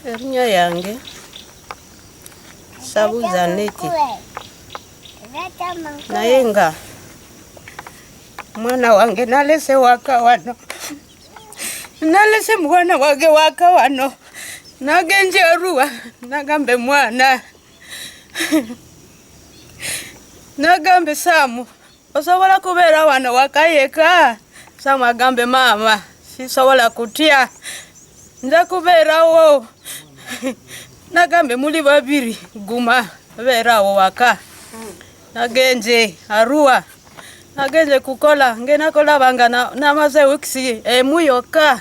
erinnya yange sabuza neti naye nga mwana wange nalese waka wano nalese mwana wange waka wano nagenje oruwa nagambe mwana nagambe samu osobola kubeera wano wakayeka samu agambe maama sisobola kutya nza kubeerawo nagambe muli babiri guma beerawo waka nagenze arua nagenze kukola ngenakolabanga namaze wikisi emu yokka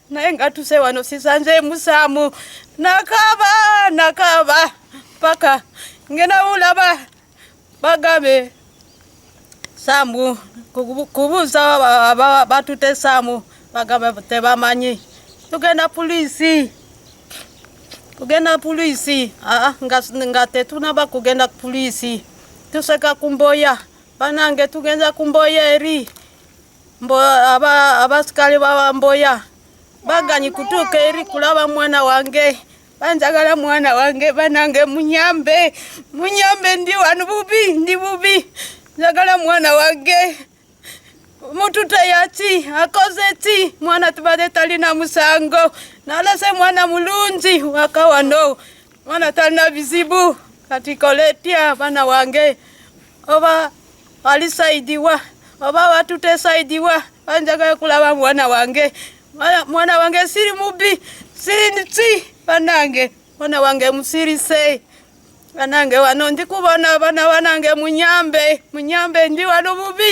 naye nga tuse wano sisanze musamu nakaba nakaba paka ngena ulaba bagabe samu kubuza batute samu bagabe tebamanyi tugenda polisi kugenda polisi ah, nga, nga tetunaba kugenda polisi tuseka kumboya banange tugenda kumboya eri mbu abasikale babamboya baganyi kutuuka eri kulaba mwana wange banjagala mwana wange banange munyambe munyambe ndi wanu bubi ndi bubi njagala mwana wange mutute yaki akoze ki mwana tubade talina musango nalese mwana mulungi wakawano mwana talina bizibu kati koletya bana wange oba ali saidiwa oba batute saidiwa banjagala kulaba mwana wange mwana wange siri mubi siri nti banange mwana wange musirise banange wano ndi kubona bana banange munyambe munyambe ndi wano mubi